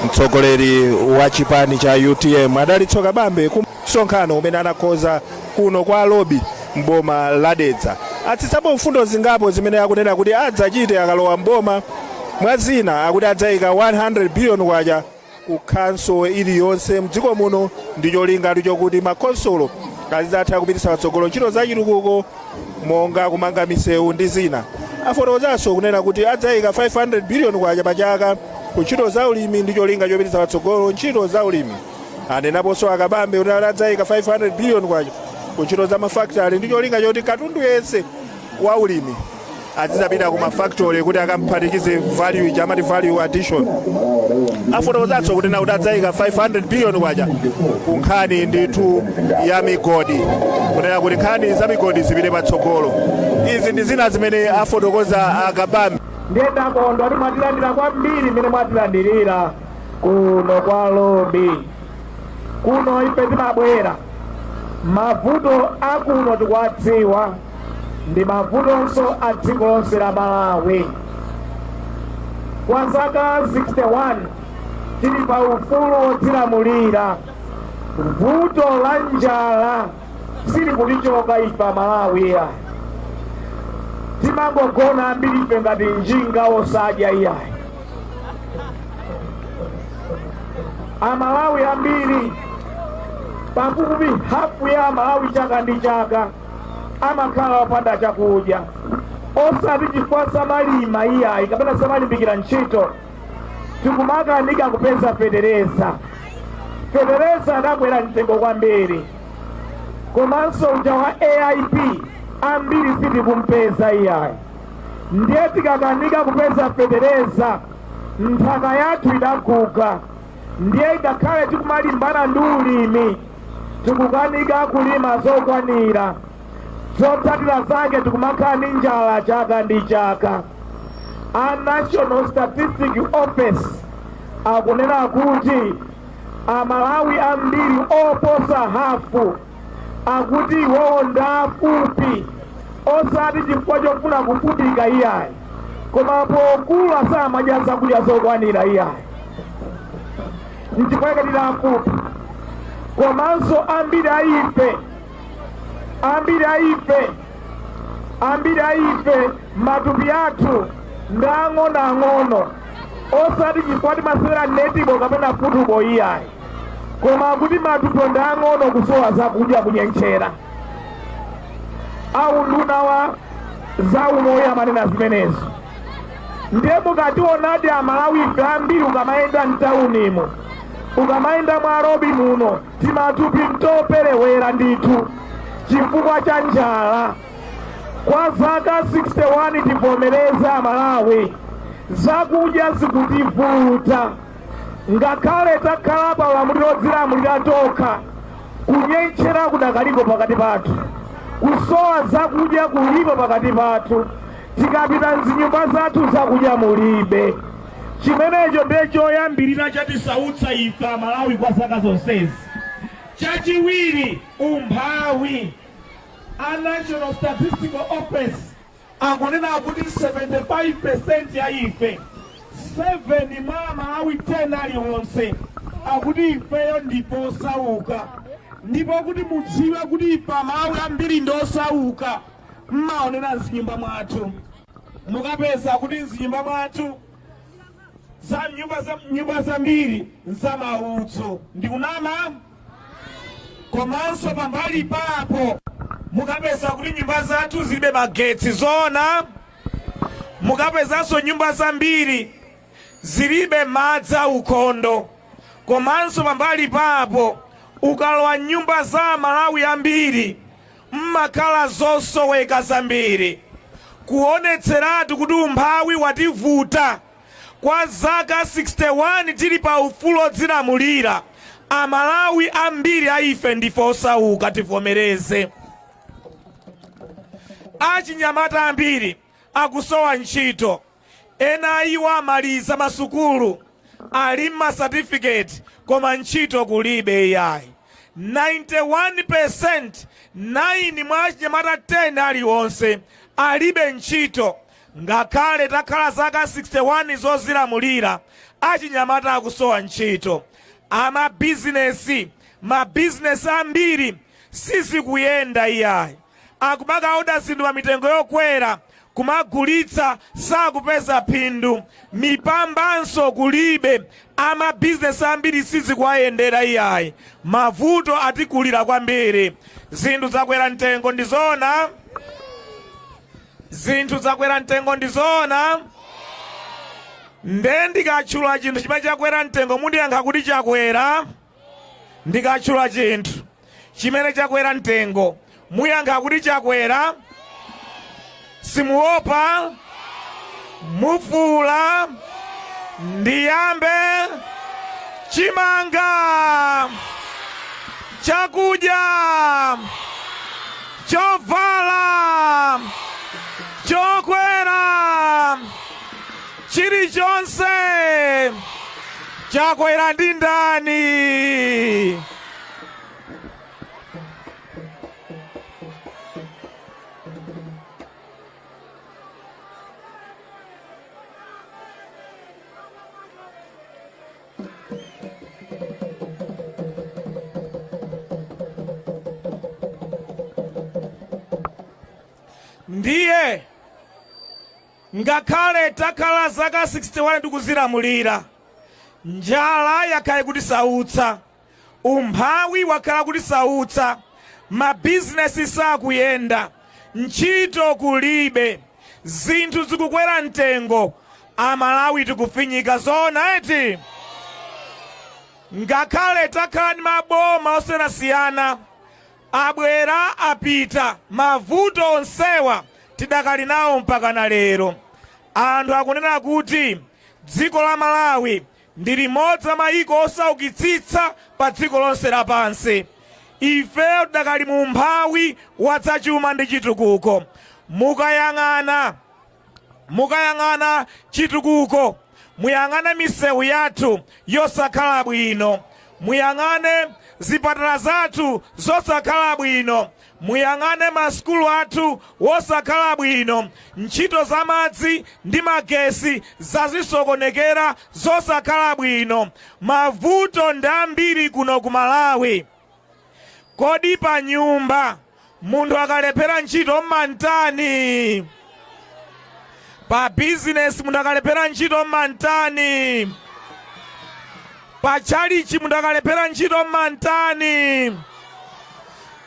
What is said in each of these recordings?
mtsogoleri wa chipani cha utm adalitso kabambe ku msonkhano umene anakonza kuno kwa lobi m'boma la dedza atsitsapo mfundo zingapo zimene akunena kuti adzachite akalowa m'boma mwa zina akuti adzayika 100 billion kwacha ku khonsolo iliyonse mdziko muno ndi cholinga chokuti makhonsolo azizatha kupititsa patsogolo ntchito za chitukuko monga kumanga misewu ndi zina afotokozanso kunena kuti adzayika 500 biliyoni kwacha pa chaka ku ntchito za ulimi ndi cholinga chopititsa patsogolo ntchito za ulimi anenaponso a kabambe kuti adzayika 500 biliyoni kwacha ku ntchito za mafakitale ndi cholinga choti katundu yense wa ulimi azizapita ku mafactory kuti akamphatikize value ija amati value addition afotokozanso kunena kuti adzayika 500 billion kwacha ku nkhani ndithu ya migodi kunena kuti nkhani za migodi zipite patsogolo izi ndi zina zimene afotokoza a kabambe ndiye takondwa kuti mwatilandira kwambiri mmene mwatilandirira kuno kwa lobi kuno ife timabwera mavuto akuno tikuwadziwa ndi mavutonso a dziko lonse la Malawi. Kwa zaka 61 tili pa ufulu wodzilamulira, vuto la njala silikutichoka ife Amalawi ya timangogona ambiri ife ngati njinga osadya iyayi. Amalawi ambiri pafupi hafu ya Amalawi chaka ndi chaka amakhala opanda chakudya osati chifukwa samalima iyayi kapena samalimbikira ntchito tikumakanika kupeza fetereza fetereza adakwera mtengo kwambiri komanso uja wa aip ambiri sitikumpeza iyayi ndiye tikakanika kupeza fetereza nthaka yathu idaguga ndiye ngakhale tikumalimbana ndi ulimi tikukanika kulima zokwanira zotsatira zake tikumakhala ndi njala chaka ndi chaka a national statistic office akunena kuti amalawi ambiri oposa hafu akuti iwowo ndafupi osati chifukwa chofuna kufupika iyayi koma pokula samadya zakudya zokwanira iyayi nchifukwa chake ndafupika komanso ambiri a ife ambiri a ife ambiri a ife matupi athu ndi ang'onoang'ono osati chifukwa timasewera netibo kapena futubo iyayi koma kuti matupi ndi ang'ono kusowa zakudya kunyentchera a unduna wa za umoyo amanena zimenezo ndiye mukationadi amalawi ife ambiri ukamayenda mtaunimu ukamayenda mwa robi muno timatupi ntoperewera ndithu chifukwa cha njala kwa zaka 61 tivomereze amalawi zakudya zikutivuta ngakhale takhala pa ulamuliro wodzilamulira tokha kunyentchera kudakaliko pakati pathu kusowa zakudya kulipo pakati pathu tikapita mzinyumba zathu zakudya mulibe chimenecho ndiye choyambirira chatisautsa ife amalawi kwa zaka zonsezi chachiwiri umphawi a national statistical office akunena kuti 75% ya ife 7 mwa amalawi 10 aliwonse akuti ifeyo ndife osauka ndipo kuti mudziwe kuti ife amalawi ambiri ndi osauka mmaonera mzinyumba mwathu mukapeza kuti mzinyumba mwathu za nyumba nyumba zambiri nzamaudzu ndikunama komanso pambali papo mukapeza kuti nyumba zathu zilibe magetsi zoona mukapezanso nyumba zambiri zilibe madzi aukhondo komanso pambali papo ukalowa nyumba za amalawi ambiri M'makhala zosoweka zambiri kuonetseratu kuti umphawi wativuta. Kwa zaka 61 tili pa ufulu odzilamulira, Amalawi ambiri a ife ndife osauka, tivomereze. Achinyamata ambiri akusowa ntchito. Ena a iwo amaliza masukulu, ali ndi ma certificate koma ntchito kulibe iyayi. 91%, 9 mwa achinyamata 10 alionse, alibe ntchito. Ngakhale takhala zaka 61 zozilamulira, achinyamata akusowa ntchito. Amabizinesi, mabizinesi ambiri sizikuyenda iyayi akumakaoda zinthu pa mitengo yokwera kumagulitsa sakupeza phindu mipambanso kulibe amabizinesi ambiri sizikuwayendera iyayi mavuto atikulira kwambiri zinthu zakwera mtengo ndi zoona zinthu zakwera mtengo ndi zoona nde ndikatchula chinthu chimene chakwera mtengo mundiyankha kuti chakwera Ndikatchula chinthu chimene chakwera mtengo, muyankha kuti chakwera. Simuopa? Mufuula? Ndiyambe? Chimanga! Chakudya! Chovala! Chokwera! Chilichonse! Chakwera ndi ndani? Ndiye Ngakhale takhala zaka 61 tikuzilamulira, njala yakhala ikutisautsa, umphawi wakhala ukutisautsa, mabizinesi sakuyenda, ntchito kulibe, zinthu zikukwera mtengo, Amalawi tikufinyika. Zoona eti? Ngakhale takhala ndi maboma osiyanasiyana, Abwera apita, mavuto onsewa tidakali nawo mpakana lero. Anthu akunena kuti dziko la Malawi ndi limodzi la maiko osaukitsitsa pa dziko lonse lapansi. Ifeyo tidakali mu umphawi wadzachuma ndi chitukuko. Mukayang'ana. Mukayang'ana chitukuko, muyang'ane misewu yathu yosakhala bwino, muyang'ane zipatala zathu zosakhala bwino, muyang'ane masukulu athu wosakhala bwino, ntchito za madzi ndi magesi zazisokonekere zosakhala bwino. Mavuto ndi ambiri kuno ku Malawi. Kodi panyumba munthu akalephera ntchito mmantani? Pa bizinesi munthu akalephera ntchito mmantani? Pa tchalichi munthu akalephera ntchito mmantani?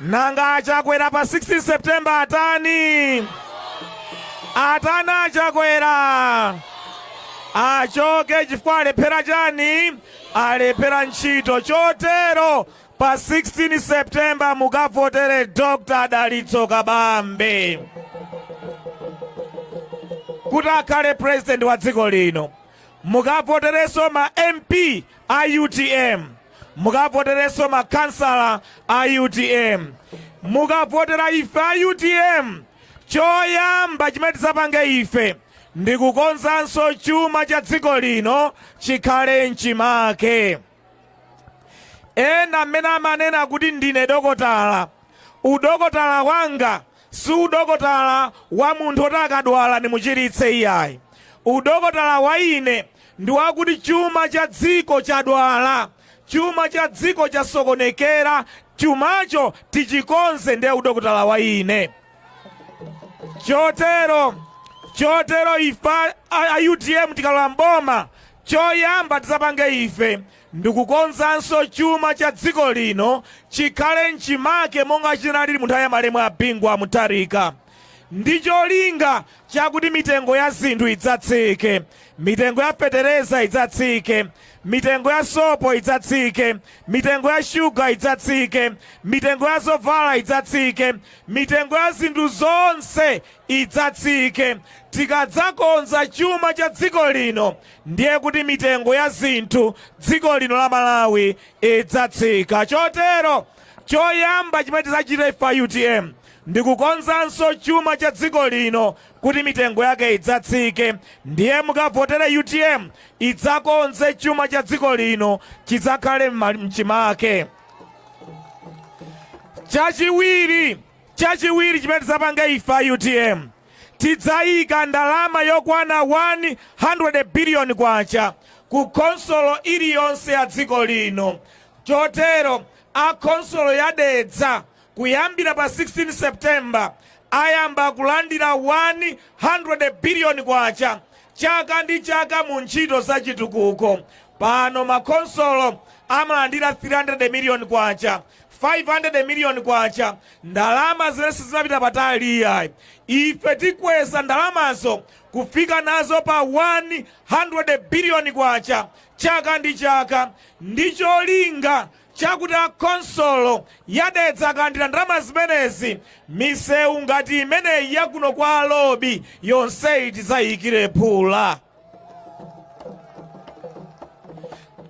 Nanga a Chakwera pa 16 September atani? Atani a Chakwera? Achoke chifukwa alephera chani? Alephera ntchito chotero Pa 16 September mukavotere Dr. Dalitso Kabambe kuti akhale president wa dziko lino. Mukavoterenso ma MP a UTM, mukavoterenso ma kansala a UTM, mukavotera ife a UTM. Choyamba chimene tidzapange ife ndi kukonzanso chuma cha dziko lino chikhale mchimake. Ena amene amanena kuti ndine dokotala, udokotala wanga si udokotala wa munthu woti akadwala ndimuchiritse iyayi. Udokotala wa ine ndi wakuti chuma cha dziko chadwala, chuma cha dziko chasokonekera, chumacho tichikonze ndiye udokotala wa ine. chotero ife a utm tikalowa mboma choyamba tizapange ife ndikukonzanso chuma cha dziko lino chikhale mchimake monga chinalili mu nthawi ya malemu a bingu wa mutharika ndi cholinga chakuti mitengo ya zinthu idzatsike mitengo ya fetereza idzatsike mitengo ya sopo idzatsike mitengo ya shuga idzatsike mitengo ya zovala idzatsike Mitengo ya zinthu zonse idzatsike. Tikadzakonza chuma cha dziko lino ndiye kuti mitengo ya zinthu dziko lino la Malawi idzatsika. Chotero choyamba chimene tidzachita ife a utm ndi kukonzanso chuma cha dziko lino kuti mitengo yake idzatsike. Ndiye mukavotere utm idzakonze chuma cha dziko lino chidzakhale m'chimake. chachiwiri chimene tidzapanga ife a utm tidzayika ndalama yokwana 100 biliyoni kwacha ku khonsolo iliyonse ya dziko lino chotero a khonsolo ya dedza Kuyambira pa 16 September, ayamba kulandira K100 billion chaka ndi chaka mu ntchito za chitukuko. Pano ma khonsolo amalandira K300 million, K500 million, ndalama zimene sizimapita patali iyayi. Ife tikweza ndalamazo kufika nazo pa K100 billion chaka ndi chaka ndi cholinga chakuti a khonsolo ya Dedza akalandira ndalama zimenezi, misewu ngati imeneyi ya kuno kwa a Lobi yonseyi tidzayikire phula.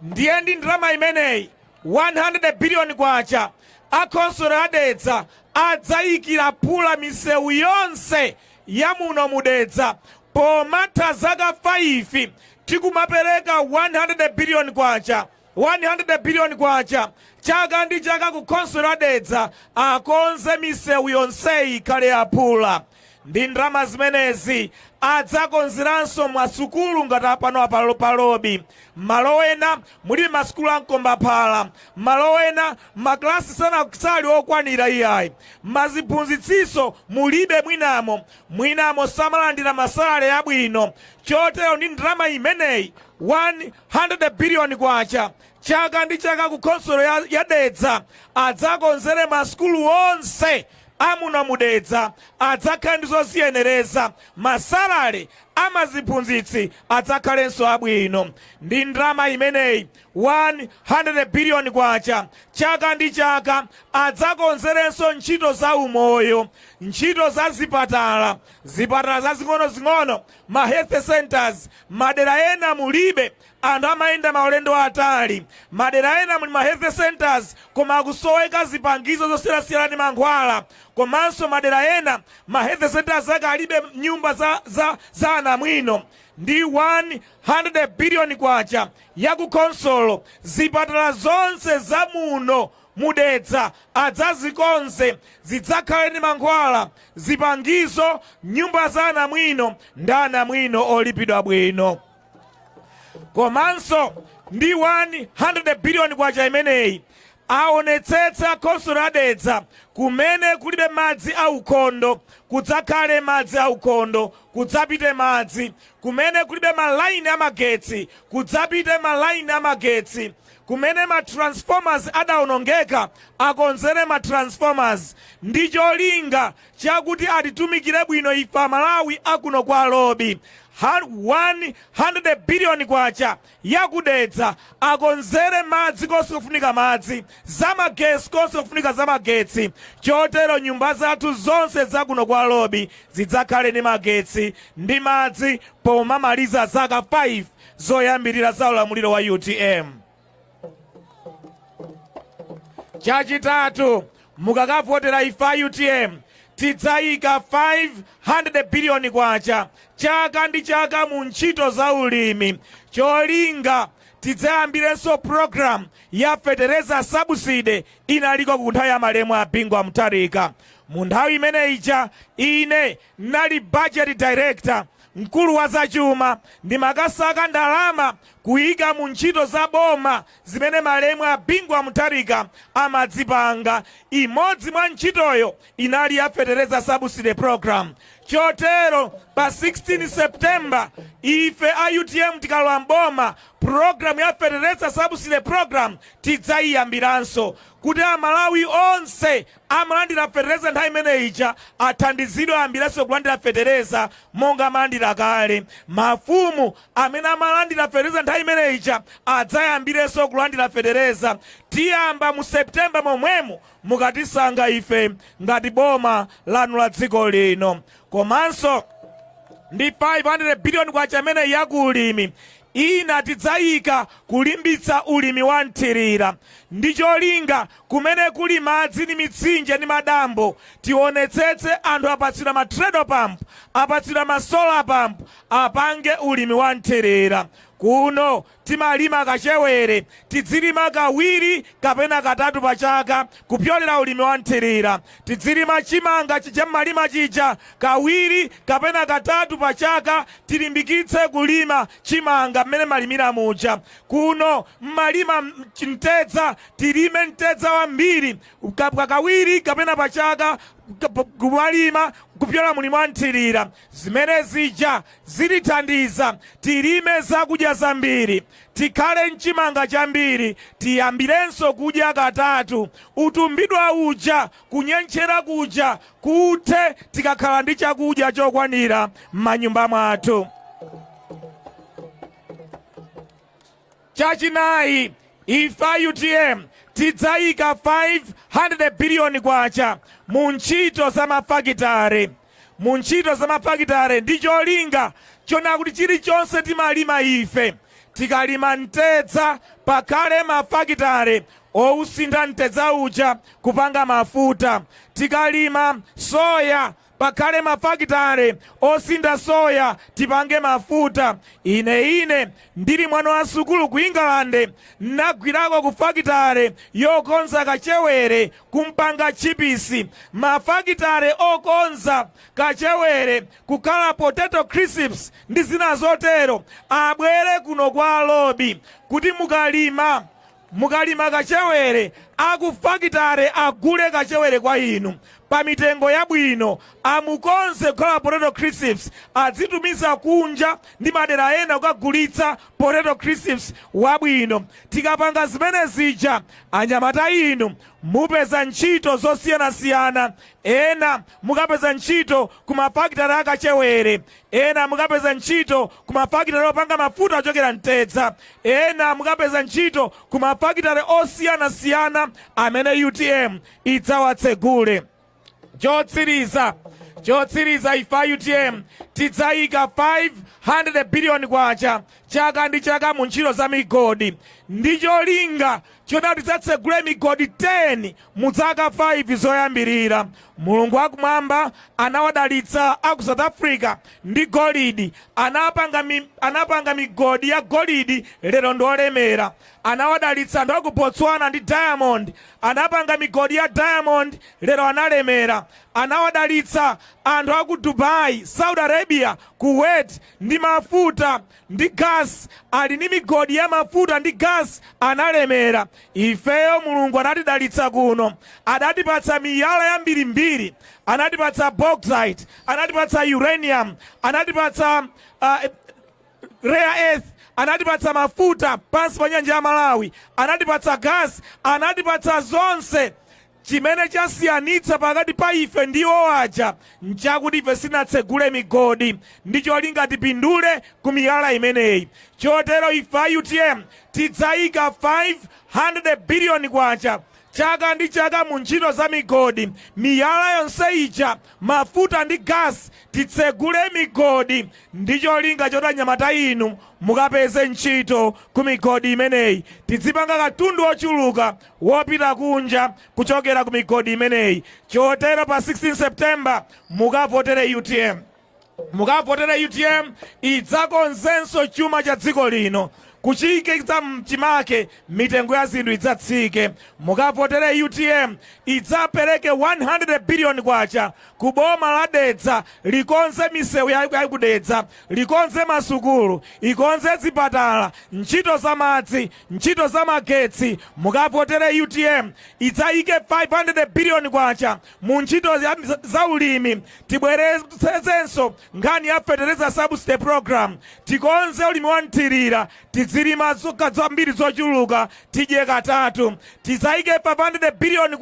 Ndiye ndi ndalama imeneyi 100 biliyoni kwacha a khonsolo ya Dedza adzayikira phula misewu yonse ya muno mu Dedza pomatha zaka 5 tikumapereka 100 biliyoni kwacha. K100 billion chaka ndi chaka ku khonsolo ya Dedza akonze misewu yonseyi ikhale ya phula. Ndi ndalama zimenezi adzakonzeranso ma sukulu ngati a pano apa pa Lobi. Mmalo ena mulibe ma sukulu a mkombaphala. Malo ena ma class sana sali okwanira iyayi. Ma ziphunzitsinso mulibe mwinamo. Mwinamo samalandira ma salary abwino. Chotero ndi ndalama imeneyi 100 billion kwacha chaka ndi chaka ku khonsolo ya dedza adzakonzere masukulu onse amuno mudedza adzakhale ndi zoziyenereza masalale amaziphunzitsi adzakhalenso abwino ndi ndalama imeneyi 100 billion kwacha chaka ndi chaka adzakonzerenso ntchito za umoyo ntchito za zipatala zipatala zazing'onozing'ono ma health centres madera ena mulibe anthu amayenda maulendo atali madera ena muli ma health centres koma akusoweka zipangizo zosiyanasiyana ndi mankhwala komanso madera ena ma health centres ake alibe nyumba za anamwino ndi 100 biliyoni kwacha ya ku khonsolo zipatala zonse za muno mu Dedza adzazikonze zidzakhale ndi mankhwala, zipangizo, nyumba za anamwino ndi anamwino olipidwa bwino. Komanso ndi K100 biliyoni imeneyi, aonetsetse a khonsolo ya Dedza kumene kulibe madzi aukhondo kudzakhale madzi aukhondo, kudzapite madzi, kumene kulibe malaini a magetsi kudzapite malaini a magetsi, Kumene ma transformers adaonongeka akonzere ma transformers ndicholinga chakuti atitumikire bwino ife amalawi akuno kwa lobi. K100 biliyoni ya ku Dedza akonzere madzi konse kufunika madzi, zamagetsi konse kufunika zamagetsi chotero nyumba zathu zonse za kuno kwa lobi zidzakhale ndi magetsi ndi madzi pomamaliza zaka 5. zoyambirira za ulamuliro wa utm chachitatu mukakavotera ife a utm tidzayika 500 biliyoni kwacha chaka ndi chaka mu ntchito za ulimi cholinga tidzayambirenso programu ya fetereza sabuside inaliko ku nthawi ya malemu a bingu wa mutharika mu nthawi imene ija ine nali budget director Mkulu wa zachuma, ndimakasaka ndalama kuika mu ntchito za boma zimene malemu a Bingu wa Mutharika amadzipanga. Imodzi mwa ntchitoyo inali ya fetereza subsidy programme. Chotero pa 16 September ife a utm tikalowa m'boma, programme ya fetereza subsidy programme tidzaiyambiranso kuti Amalawi onse amalandira fetereza nthawi imene ija athandizidwe ayambirenso kulandira fetereza monga amalandira kale. Mafumu amene amalandira fetereza nthawi imene ija adzayambirenso kulandira fetereza. Tiyamba mu September momwemo mukatisankha ife ngati boma lanu la dziko lino. Komanso ndi 500 biliyoni kwacha imeneyi ya ku ulimi ina tidzayika kulimbitsa ulimi wa mthirira ndi cholinga kumene kuli madzi ndi mitsinje ndi madambo tionetsetse anthu apatsidwa ma treadle pump apatsidwa ma solar pump apange ulimi wa mthirira kuno timalima kachewere tidzilima kawiri kapena katatu pa chaka kupyolera ulimi wa mthirira tidzilima chimanga chija mmalima chija kawiri kapena katatu pa chaka tilimbikitse kulima chimanga mmene mmalimira muja kuno mmalima mtedza tilime mtedza wambiri kawiri kapena pa chaka kumalima kupyola mu ulimi wa mthirira. Zimene zija zitithandiza tilime zakudya zambiri, tikhale n'chimanga chambiri, tiyambirenso kudya katatu, utumbidwa uja, kunyentchera kuja, kuthe tikakhala ndi chakudya chokwanira m'manyumba mwathu. Chachinayi, ife a utm tidzayika K500 biliyoni mu ntchito za mafakitare mu ntchito za mafakitare ndi cholinga chonena kuti chilichonse timalima ife, tikalima mtedza pakhale mafakitare owusintha mtedza uja kupanga mafuta, tikalima soya. Pakhale mafakitare osintha soya tipange mafuta. Ine, ine ndili mwana wa sukulu ku Ingalande, nagwirako ku fakitare yokonza kachewere, kumpanga tchipisi. Mafakitare okonza kachewere kukhala potato crisps ndi zina zotero abwere kuno kwa Lobi kuti mukalima. Mukalima kachewere a ku fakitare agule kachewere kwa inu pa mitengo yabwino, amukonze kukhala potato crisps, adzitumiza kunja ndi madera ena kukagulitsa potato crisps wabwino. Tikapanga zimene zija, anyamata inu mupeza ntchito zosiyanasiyana, ena mukapeza ntchito ku mafakitare a kachewere. Ena mukapeza ntchito ku mafakitale opanga mafuta ochokera mtedza. Ena mukapeza ntchito ku mafakitale osiyanasiyana amene utm idzawatsegule. Chotsiriza, chotsiriza ife a utm tidzayika K500 biliyoni chaka ndi chaka mu ntchito za migodi ndi cholinga choti tidzatsegule migodi 10 mu dzaka 5 zoyambilira. Mulungu wakumwamba anawadalitsa a ku South Africa ndi golidi. Anapanga mi, anapanga migodi ya golidi lero ndi olemera. Anawadalitsa anthu a ku Botswana ndi diamond. Anapanga migodi ya diamond lero analemera. Anawadalitsa anthu a ku Dubai, Saudi Arabia, Kuwait ndi mafuta. ndi gas ali ndi migodi ya mafuta ndi gas analemera ifeyo mulungu anatidalitsa kuno adatipatsa miyala yambirimbiri anatipatsa bauxite anatipatsa uranium anatipatsa uh, rare earth anatipatsa mafuta pansi pa nyanja ya malawi anatipatsa gas anatipatsa zonse Chimene chasiyanitsa pakati pa ife ndi iwo aja nchakuti ife sinatsegule migodi ndi cholinga tipindule ku miyala imeneyi. Chotero ife a utm tidzaika K500 biliyoni chaka ndi chaka mu ntchito za migodi. Miyala yonse ija, mafuta ndi gas titsegule migodi ndi cholinga choti anyamata inu mukapeze ntchito ku migodi imeneyi. Tidzipanga katundu wochuluka wopita kunja kuchokera ku migodi imeneyi. Chotero pa 16 September mukavotere utm. Mukavotere utm idzakonzenso chuma cha dziko lino kuchiikitsa mchimake mitengo ya zinthu idzatsike. Mukavotere utm idzapereke 100 billion kwacha ku boma la Dedza likonze misewu ya ya ku Dedza, likonze masukulu, ikonze zipatala, ntchito za madzi Ntchito za magetsi, mukavotere utm idzayike K500 billion mu ntchito za ulimi, tibweretsenso nkhani ya fetereza subsidy program, tikonze ulimi wa mthirira, tidzilima zokolola zambiri zochuluka tidye katatu, tidzayike K500 billion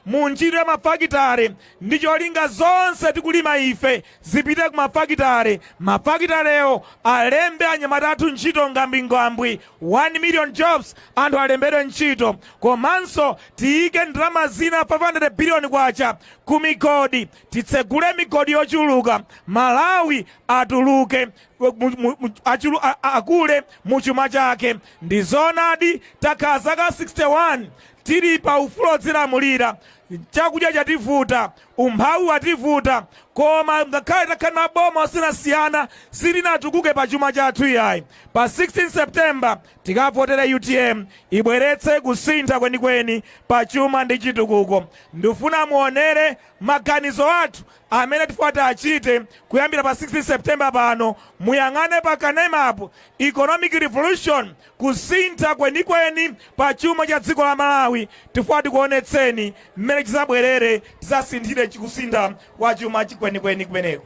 mu ntchito ya mafakitale ndi cholinga zonse tikulima ife zipite ku mafakitale, mafakitalewo alembe anyamata athu ntchito ngambwingambwi, 1 million jobs, anthu alembedwe ntchito. Komanso tiyike ndalama zina, K500 billion, ku migodi, titsegule migodi yochuluka, Malawi atuluke, akule mu chuma chake. Ndi zoonadi takhala zaka 61 tili pa ufulu odzilamulira, chakudya chativuta, Umphawi wativuta koma ngakhale takhala ndi maboma osiyanasiyana sitinatukuke pa chuma chathu iyayi. Pa 16 September tikavotere utm ibweretse kusintha kwenikweni pa chuma ndi chitukuko. Ndifuna muonere maganizo athu amene tifuna tiachite kuyambira pa 16 September pano. Muyang'ane pa kanemapo, Economic Revolution kusintha kwenikweni pa chuma cha dziko la Malawi tifuna tikuonetseni mmene chizabwerere tizasinthire chikusintha kwa chuma chenicheni kumeneko.